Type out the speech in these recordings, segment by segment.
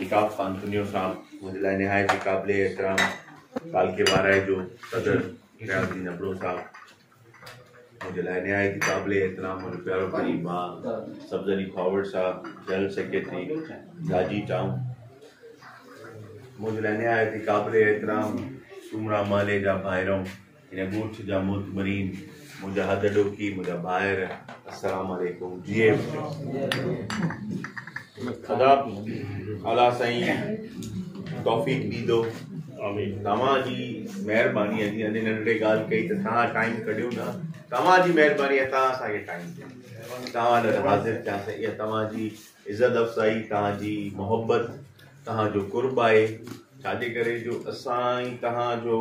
الطاف خان ڪنيو صاحب منهنجي لاء نهايت ئي قابل احترام ڪالڪي وارائي جو صدر رياض الدين ابڙو صاحب منهنجي لاء نهايت ئي قابل احترام منهنجو پيارو قريب ماء سبز علي فاورڊ صاحب جنرل سيڪريٽري جاجي ٽائون منهنجي لاء نهايت ئي قابل احترام سومرا محلي جا ڀائرو هن ڳوٺ جا معتبرين منهنجا هڏڏوکي منهنجا ڀائر السلام عليڪم جي ايم خدا اعليٰ سائين توفيق ڏيندو توهان جي مهرباني جي اني ننڍڙي ڳالهه ڪئي ته توهان ٽائيم ڪڍيو نه توهان جي مهرباني ۽ توهان اسان کي ٽائيم ڏيو توهان لاء حاضر ٿيا سائين اها توهان جي عزت افزائي توهان جي محبت توهان جو قرب آهي ڇاجي ڪري جو اسان توهان جو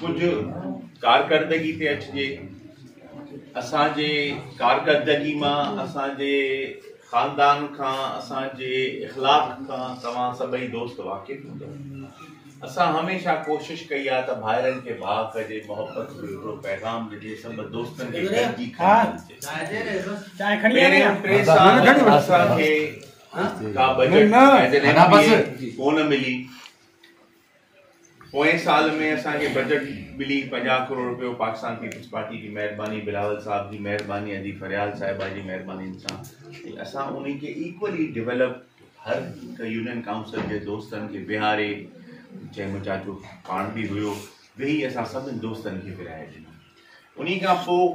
ڪجهه ڪارڪردگي تي اچجي، اسان جي ڪارڪردگي مان اسان جي خاندان کان اسان جي اخلاق کان توهان سڀئي دوست واقف هوندؤ، اسان هميشه ڪوشش ڪئي آهي ته ڀائرن کي ڀاء ڪجي، محبت جو هڪڙو پيغام ڏجي، سڀ دوستن کي گڏجي کڻجي، پهريون ٽي سال اسان کي ڪا بجيٽ ڪونه ملي. پوئين سال ۾ اسان کي بجٽ ملي پنجاهه ڪروڙ روپيو پاڪستان پيپلز پارٽي جي مهرباني بلاول صاحب جي مهرباني ادي فريال صاحبه جي مهرباني سان ۽ اسان انهي کي ايڪولي ڊيولپ هر هڪ يونين ڪائونسل جي دوستن کي ويهاري جنهن ۾ چاچو پاڻ به هيو ويهي اسان سڀني دوستن کي ورهائي ڏنو انهي کان پوء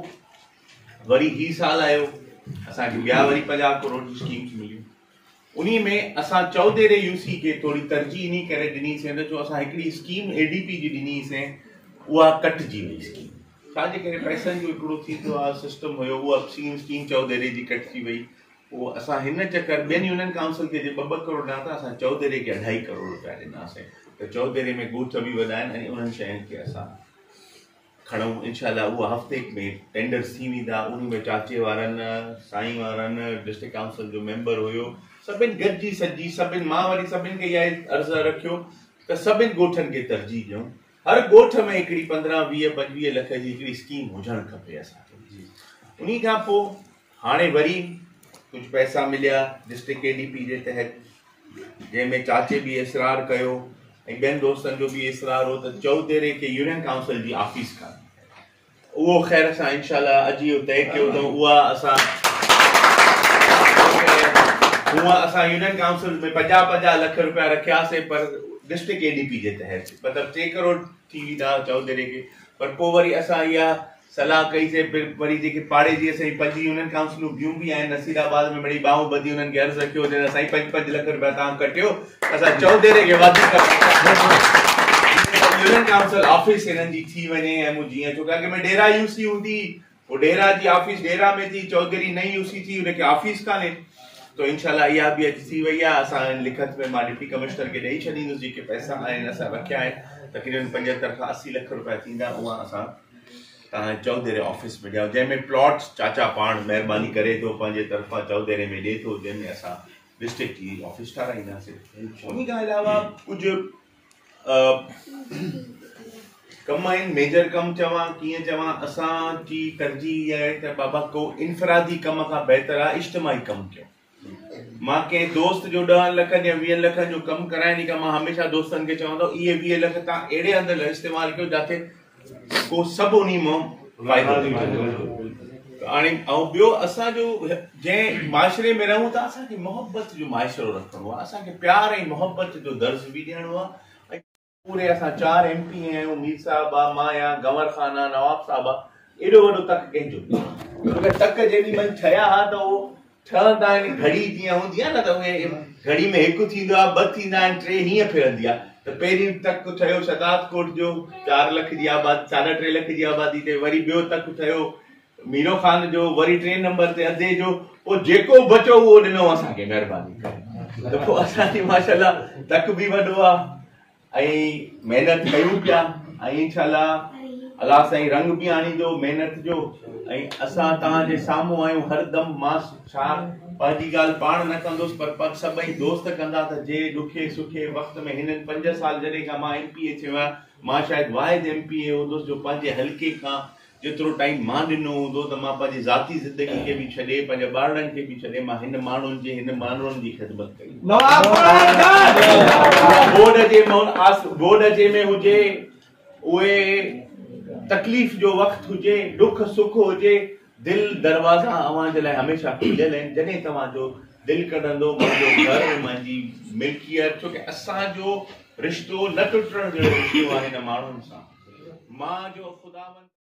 وري هي سال آيو اسان کي ٻيا وري پنجاهه ڪروڙ جي اسڪيمز مليون انهي ۾ اسان چئوديري يو سي کي ٿوري ترجيح انهي ڪري ڏني سين ته جو اسان هڪڙي اسڪيم اي ڊي پي جي ڏني هئي سين اها ڪٽجي وئي اسڪيم ڇا جي ڪري پئسن جو هڪڙو ٿيندو آهي سسٽم هيو اها اسڪيم اسڪيم چئوديري جي ڪٽجي وئي پوء اسان هن چڪر ٻين يونين ڪائونسل کي جي ٻه ٻه ڪروڙ ڏنا ٿا اسان چئوديري کي اڍائي ڪروڙ روپيا ڏنا سين ته چئوديري ۾ ڳوٺ به وڏا آهن ۽ انهن شين کي اسان کڻئون انشاء الله اها هفتي ۾ ٽينڊر ٿي ويندا انهي ۾ چاچي وارن سائين وارن ڊسٽرڪٽ ڪائونسل جو ميمبر هيو سڀن گڏجي سڏجي سڀن مان وري سڀن کي اها عرض رکيو ته سڀن ڳوٺن کي ترجيح ڏيون هر ڳوٺ ۾ هڪڙي پندرهن ويهه پنجويهه لک جي هڪڙي اسڪيم هجڻ کپي اسان کي انهي کان پوء هاڻي وري ڪجهه پئسا مليا ڊسٽرڪٽ ڪي ڊي پي جي تحت جنهن ۾ چاچي به اصرار ڪيو ۽ ٻين دوستن جو به اصرار هو ته چوتيري کي يونين ڪائونسل جي آفيس کان اهو خير اسان انشاء الله اڄ اهو طئي ڪيو اٿئون اها اسان هونء اسان يونين ڪائونسل ۾ پنجاهه پنجاهه لک روپيا رکياسي پر ڊسٽرڪٽ ڪي ڊي پي جي تحت مطلب ٽي ڪروڙ ٿي ويندا چوڌري کي پر پوء وري اسان اها صلاح ڪئي سي پھر وري جيڪي پاڙي جي اسان جي پنج يونين ڪائونسلون ٻيون به آھن نصير آباد ۾ مڙئي ٻانهون ٻڌي انهن کي عرض رکيو چيو سائين پنج پنج لک روپيا تان ڪٽيو اسان چوڌري کي وڌيڪ يونين ڪائونسل آفيس انهن جي ٿي وڃي ۽ مون جيئن ڇو ڪي اڳ ۾ ڊيرا يوسي هوندي ڍيرا جي آفيس ڍيرا ۾ ٿي چوڌري نئين يو سي ٿي ان کي آفيس ڪانهي تو انشاءالله اها به اڄ ٿي وئي آهي اسان لکت ۾ مان ڊپٽي ڪمشنر کي ڏئي ڇڏيندس جيڪي پئسا آهن اسان رکيا آهن تقريبن پنجهتر کان اسي لک روپيا ٿيندا اها اسان تنهنجي چوڌري آفيس ۾ ڏيان جنهن ۾ پلاٽ چاچا پاڻ مهرباني ڪري ٿو پنهنجي طرفان چوڌري ۾ ڏئي ٿو جنهن ۾ اسان ڊسٽرڪٽ جي آفيس ٺاراهينداسين ان کان علاوه ڪجهه ڪم آهن ميجر ڪم چوان ڪيئن چوان اسان جي ترجيح اها آهي ته بابا ڪو انفرادي ڪم کان بهتر آهي اجتماعي ڪم ڪيو مان ڪنهن دوست جو ڏهن لکن يا ويهن لکن جو ڪم ڪرائڻ کان مان هميشه دوستن کي چوان ٿو اهي ويهه لک تان اهڙي هنڌ استعمال ڪيو جاٿي ڪو سڀ انهي مان فائدو ٿي ويندو ته هاڻي ۽ ٻيو اسان جو جنهن معاشري ۾ رهون ٿا اسان کي محبت جو معاشرو رکڻو آهي اسان کي پيار ۽ محبت جو درس به ڏيڻو آهي پوري اسان چار ايم پي اي آهيون مير صاحب آ مان آهيان گنور خان آ نواب صاحب آ ايڏو وڏو تڪ ڪنهن جو اگر تڪ جيڏي مهل ٺهيا ها ته اهو ڇهن تائين گهڙي جيئن هوندي آهي نه ته اهي گهڙي ۾ هڪ ٿيندو آهي، ٻه ٿيندا آهن، ٽي هيئن ڦرندي آهي ته پهريون تڪ ٺهيو شهداد ڪوٽ جو چار لک جي آبادي ساڍا ٽي لک جي آبادي تي وري ٻيو تڪ ٺهيو ميرو خان جو وري ٽئين نمبر تي ادي جو پوء جيڪو بچو اهو ڏنو اسان کي مهرباني ڪري ته پوء اسان جي ماشاءالله تڪ به وڏو آهي ۽ محنت ڪيون پيا ۽ انشاءالله الله سائين رنگ به آڻيندو محنت جو ۽ اسان تان جي سامهون آيون هر دم مان ڇا پنهنجي ڳالهه پاڻ نه ڪندوس پر پڪ سڀئي دوست ڪندا ته جي ڏکي سکي وقت ۾ هنن پنج سال جڏهن کان مان ايم پي اي ٿيو آهيان مان شايد واحد ايم پي اي هوندوس جو پنهنجي حلقي کان جيترو ٽائيم مان ڏنو هوندو ته مان پنهنجي ذاتي زندگي کي به ڇڏي، پنهنجي ٻارڙن کي به ڇڏي مان هن ماڻهن جي، هن ماڻهن جي خدمت ڪئي هوندي. اها گوڏ جي مون آس گوڏ جي ۾ هجي، اهي تڪليف جو وقت هجي، ڏک سک هجي، دل دروازا اوهان جي لاء هميشه کليل آهن، جڏهن توهان جو دل ڪڍندو، منهنجو گهر، منهنجي ملڪيت، ڇو ڪي اسان جو رشتو نه ٽٽڻ جهڙو رشتو آهي هن ماڻهن سان، مان جو خداوند.